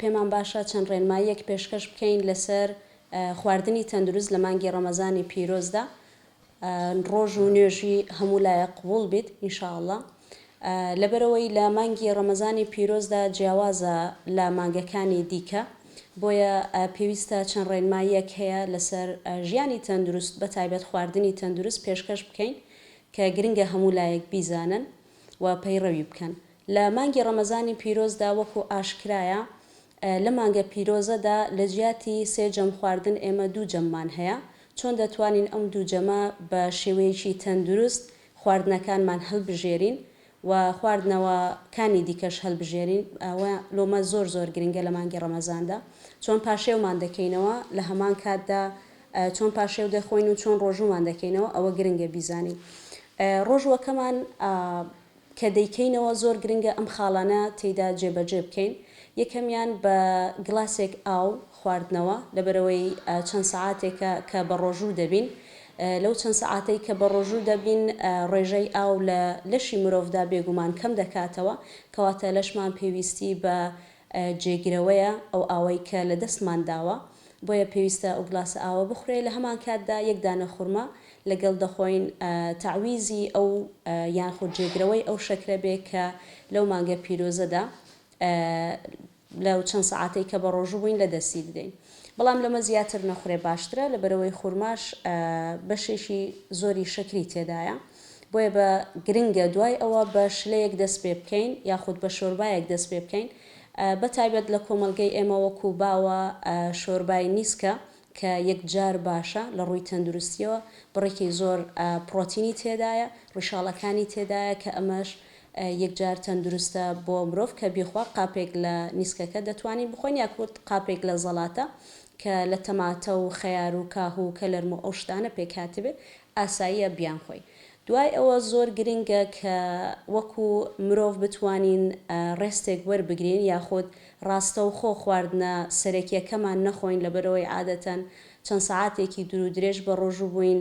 پێمان باشە چەند ڕێنماییەک پێشکەش بکەین لەسەر خواردنی تەندروست لە مانگی ڕەمەزانی پیرۆزدا ڕۆژ و نوێژی هەموو لایەک قبوڵ بیت ان شاء اللە لەبەرەوەی لە مانگی ڕەمەزانی پیرۆزدا جیاوازە لە مانگەکانی دیکە بۆیە پێویستە چەند ڕێنماییەک هەیە لەسەر ژیانی تەندروست بە تایبەت خواردنی تەندروست پێشکەش بکەین کە گرنگە هەموو لایەک بیزانن و پەیڕەوی بکەن لە مانگی ڕەمەزانی پیرۆزدا وەکو ئاشکرایە لە مانگە پیرۆزەدا لە جیاتی سێ جەم خواردن ئێمە دوو جەممان هەیە چۆن دەتوانین ئەم دوو جەمە بە شێوەیەکی تەندروست خواردنەکانمان هەلبژێرین و خواردنەوە کانی دیکەش هەلبژێرین ئەوە لۆمە زۆر زۆر گرنگە لە مانگی ڕەمەزاندا چۆن پاشێومان دەکەینەوە لە هەمان کاتدا چۆن پاشێو دەخۆین و چۆن ڕۆژوومان دەکەینەوە ئەوە گرنگە بیزانین ڕۆژووەکەمان کە دەیکەینەوە زۆر گرنگە ئەم خاڵانە تێیدا جێبەجێ بکەین، یەکەمیان بە گڵاسێک ئاو خواردنەوە، لەبەرئەوەی چەند سەعاتێکە کە بەڕۆژوو دەبین، لەو چەند سەعاتەی کە بەڕۆژوو دەبین ڕێژەی ئاو لە لەشی مرۆڤدا بێگومان کەم دەکاتەوە، کەواتە لەشمان پێویستی بە جێگرەوەیە ئەو ئاوەی کە لەدەستمان داوە، بۆیە پێویستە ئەو گڵاسە ئاوە بخورێ، لە هەمانکاتدا یەک دانە خورما لەگەڵ دەخۆین تەعویزی ئەو یانخود جێگرەوەی ئەو شەکرە بێ کە لەو مانگە پیرۆزەدا لەو چەند سەعاتەی کە بەڕۆژو بووین لە دەستی بدەین بەڵام لەمە زیاتر نەخورێ باشترە لەبەرئەوەی خورماش بەشێکی زۆری شەکری تێدایە بۆیە بە گرنگە دوای ئەوە بە شلەیەک دەست پێ بکەین یاخود بە شۆربایەک دەست پێ بکەین بەتایبەت لە کۆمەڵگەی ئێمە وەکو باوە شۆربای نیسکە کە یەکجار باشە لە ڕووی تەندروستییەوە، بڕێکی زۆر پڕۆتینی تێدایە، ڕیشاڵەکانی تێدایە کە ئەمەش یەکجار تەندروستە بۆ مرۆڤ کە بیخوا، قاپێک لە نیسکەکە دەتوانین بخۆین یاخود قاپێک لە زەڵاتە کە لە تەماتە و خەیار و کاهو و کەلەرم و ئەو شتانە پێکهاتبێت ئاساییە بیانخۆین دوای ئەوە زۆر گرنگە کە وەکو مرۆڤ بتوانین ڕێستێک وەربگرین یاخود ڕاستەوخۆ خواردنە سەرەکیەکەمان نەخۆین لەبەرئەوەی عادەتەن چەند سەعاتێکی دورو درێژ بە ڕۆژو بوین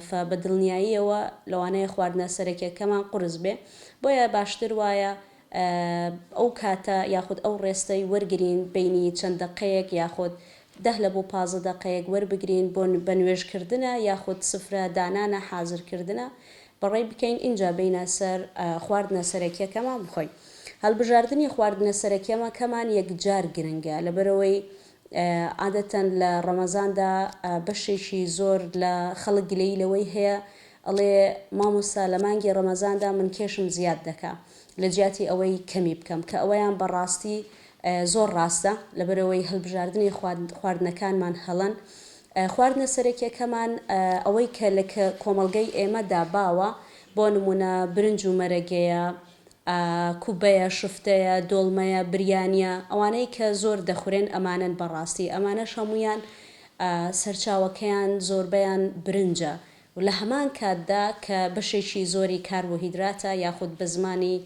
فە بە دڵنیاییەوە لەوانەیە خواردنە سەرەکیەکەمان قورس بێ بۆیە باشتر وایە ئەو کاتە یاخود ئەو ڕێستەی وەرگرین بەینی چەند دەقەیەک یاخود دەه لە بۆ پازدە دەقەیەک وەربگرین بۆ بە نوێژ کردنە یاخود سفرە دانانە حازر کردنە بەڕێ بکەین ئینجا بینە سەر خواردنە سەرەکیەکەمان بخۆین هەلبژاردنی خواردنە سەرەکیەمە کەمان یەکجار گرنگە لەبەرەوەی عادەتەن لە ڕەمەزاندا بەشێکی زۆر لە خەڵک گلەیی لەوەی هەیە ئەڵێ مامۆستا لە مانگی ڕەمەزاندا من کێشم زیاد دەکا لە جیاتی ئەوەی کەمی بکەم کە ئەوەیان بە ڕاستی زۆر ڕاستە لەبەرئەوەی هەلبژاردنی خواردنەکانمان هەڵەن خواردنە سەرەکیەکەمان ئەوەی کە لە کۆمەڵگەی ئێمەدا باوە بۆ نمونە برنج و مەرەگەیە کوبەیە شفتەیە دۆڵمەیە بریانیە ئەوانەی کە زۆر دەخورێن ئەمانەن بە ڕاستی ئەمانەش هەموویان سەرچاوەکەیان زۆربەیان برنجە و لە هەمان کاتدا کە بەشێکی زۆری کاربۆهیدراتە یاخود بە زمانی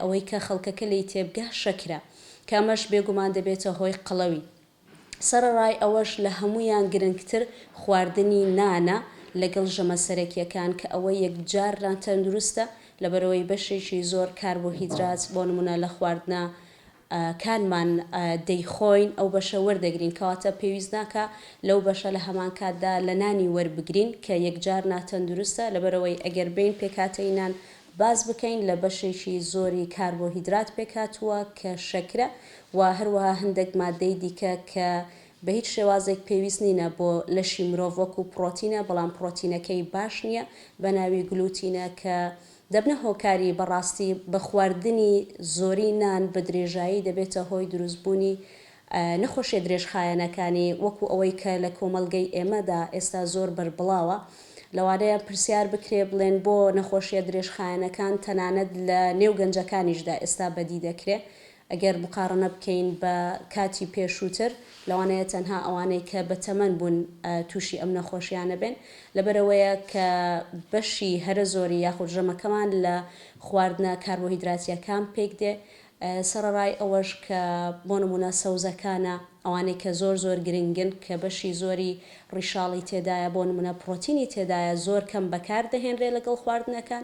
ئەوەی کە خەڵکەکە لێی تێبگا شەکرە کە ئەمەش بێگومان دەبێتە هۆی قەڵەوی. سەرەڕای ئەوەش لە هەموویان گرنگتر خواردنی نانە لەگەڵ ژەمە سەرەکییەکان کە ئەوە یەکجار ناتەندروستە لەبەرئەوەی بەشێکی زۆر کاربۆهیدرات بۆ نموونە لە خواردنە کانمان دەیخۆین ئەو بەشە وەردەگرین کەواتە پێویست ناکا لەو بەشە لە هەمان کاتدا لە نانی وەربگرین کە یەکجار ناتەندروستە لەبەرئەوەی ئەگەر بێین پێکهاتەی نان باس بکەین لە بەشێکی زۆری کاربۆهیدرات پێکهاتووە کە شەکرە و هەروەها هەندێک ماددەی دیکە کە بە هیچ شێوازێک پێویست نینە بۆ لەشی مرۆڤ وەکو پڕۆتینە بەڵام پڕۆتینەکەی باش نیە بەناوی گلوتینە کە دەبنە هۆکاری بەڕاستی بە خواردنی زۆری نان بە درێژایی دەبێتە هۆی دروست بوونی نەخۆشیە درێژخایەنەکانی وەکو ئەوەی کە لە کۆمەڵگەی ئێمەدا ئێستا زۆر بەربڵاوە لەوانەیە پرسیار بکرێ بڵێن بۆ نەخۆشیە درێژخایەنەکان تەنانەت لە نێو گەنجەکانیشدا ئێستا بەدی دەکرێ ئەگەر مقاڕنە بکەین بە کاتی پێشووتر، لەوانەیە تەنها ئەوانەی کە بە تەمەن بوون تووشی ئەم نەخۆشییانە بێن، لەبەرئەوەیە کە بەشی هەرە زۆری یاخود ژەمەکەمان لە خواردنە کاربۆهیدراتییەکان پێک دێ، سەرەڕای ئەوەش کە بۆ نموونە سەوزەکانە ئەوانەی کە زۆر زۆر گرنگن کە بەشی زۆری ڕیشاڵی تێدایە، بۆ نموونە پڕۆتینی تێدایە زۆر کەم بەکار دەهێنرێ لەگەڵ خواردنەکان،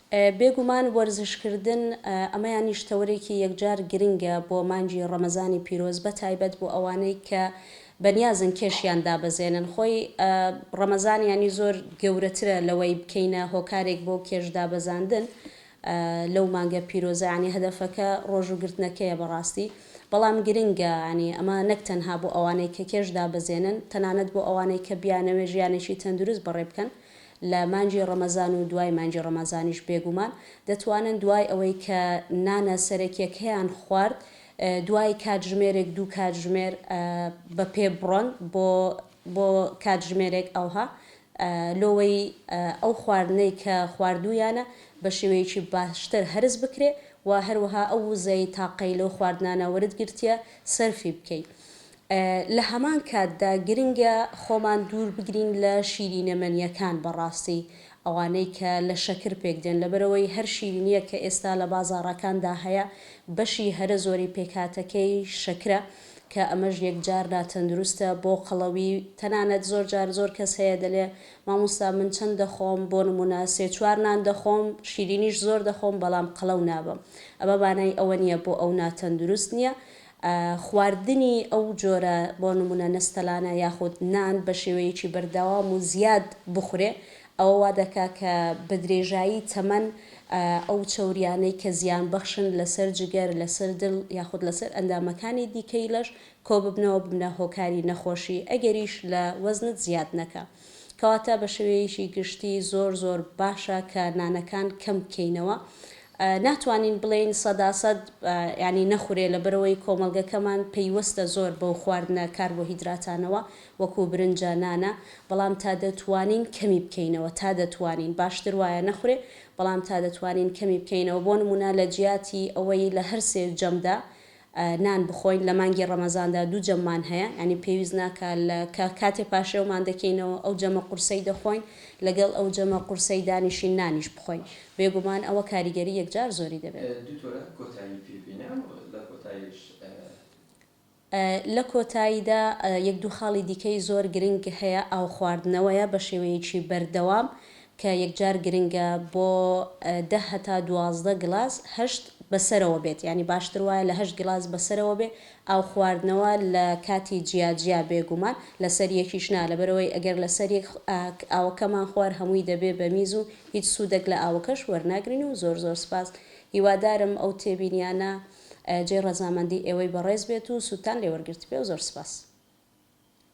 بێگومان وەرزشکردن ئەمەیانیش تەوەرێکی یەکجار گرنگە بۆ مانگی ڕەمەزانی پیرۆز بەتایبەت بۆ ئەوانەی کە بەنیازن کێشیان دابەزێنن خۆی ڕەمەزانیانی زۆر گەورەترە لەوەی بکەینە هۆکارێک بۆ کێش دابەزاندن لەو مانگە پیرۆزە یانی هەدەفەکە ڕۆژووگرتنەکەیە بەڕاستی بەڵام گرنگە ینی ئەمە نەک تەنها بۆ ئەوانەی کە کێش دابەزێنن تەنانەت بۆ ئەوانەی کە بیانەوێت ژیانێکی تەندروست بەڕێبکەن لە مانگی ڕەمەزان و دوای مانگی ڕەمەزانیش بێگومان دەتوانن دوای ئەوەی کە نانە سەرەکیەکەیان خوارد دوای کاتژمێرێک دوو کاتژمێر بە پێ بڕۆن بۆ بۆ کاتژمێرێک ئەوها لۆوەی ئەو خواردنەی کە خواردوویانە بە شێوەیەکی باشتر هەرس بکرێ و هەروەها ئەو وزەی تاقەی لەو خواردنانە وەرت گرتیە سەرفی بکەی لە هەمان کاتدا گرنگە خۆمان دوور بگرین لە شیرینە مەنیەکان بەڕاستی ئەوانەی کە لە شەکر پێک دێن لەبەرئەوەی هەر شیرینیەک کە ئێستا لە بازاڕەکاندا هەیە بەشی هەرە زۆری پێکهاتەکەی شەکرە کە ئەمەش یەکجار ناتەندروستە بۆ قەڵەوی تەنانەت زۆر جار زۆر کەس هەیە دەلێ مامۆستا من چەند دەخۆم بۆ نمونە سێ چوار نان دەخۆم شیرینیش زۆر دەخۆم بەڵام قەڵەو نابم ئەمە مانای ئەوە نیە بۆ ئەو ناتەندروست نیە خواردنی ئەو جۆرە بۆ نموونە نەستەلانە یاخود نان بە شێوەیەکی بەردەوام و زیاد بخورێ ئەوە وا دەکا کە بە درێژایی تەمەن ئەو چەوریانەی کە زیان بەخشن لەسەر جگەر لەسەر دڵ یاخود لەسەر ئەندامەکانی دیکەی لەش کۆببنەوە ببنە هۆکاری نەخۆشی ئەگەریش لە وەزنت زیاد نەکا. کەواتە بە شێوەیەکی گشتی زۆر زۆر باشە کە نانەکان کەم بکەینەوە ناتوانین بڵێین سەدا سەد یانی نەخورێ لەبەرەوەی کۆمەڵگەکەمان پەیوەستە زۆر بەو خواردنە کاربۆهیدراتانەوە وەکو برنجە نانە بەڵام تا دەتوانین کەمی بکەینەوە تا دەتوانین باشتر وایە نەخورێ بەڵام تا دەتوانین کەمی بکەینەوە بۆ نمونە لە جیاتی ئەوەی لە هەر سێ جەمدا نان بخۆین لە مانگی ڕەمەزاندا دوو جەممان هەیە یانی پێویست ناکا لە کە کاتێ پاشێومان دەکەینەوە ئەو جەمە قورسەی دەخۆین لەگەڵ ئەو جەمە قورسەی دانیشین نانیش بخۆین بێگومان ئەوە کاریگەری یەکجار زۆری دەبێت. دکتۆرە کۆتایی پێ بینە و لە کۆتایش. لە کۆتاییدا یەک دوو خاڵی دیکەی زۆر گرنگ هەیە ئاو خواردنەوەیە بە شێوەیەکی بەردەوام کە یەکجار گرنگە بۆ دە هەتا دوازدە گڵاس هەشت بەسەرەوە بێت یانی باشتر وایە لە هەشت گڵاس بەسەرەوە بێ ئاو خواردنەوە لە کاتی جیا جیا بێگومان لەسەر یەکیش نا لەبەرئەوەی ئەگەر لەسەر یەک ئاوەکەمان خوار هەمووی دەبێ بە میز و هیچ سوودەک لە ئاوەکەش وەرناگرین و زۆر زۆر سپاس هیوادارم ئەو تێبینیانە جێی ڕەزامەندی ئێوەی بەڕێز بێت و سوودتان لێ وەرگرتبێ و زۆر سپاس.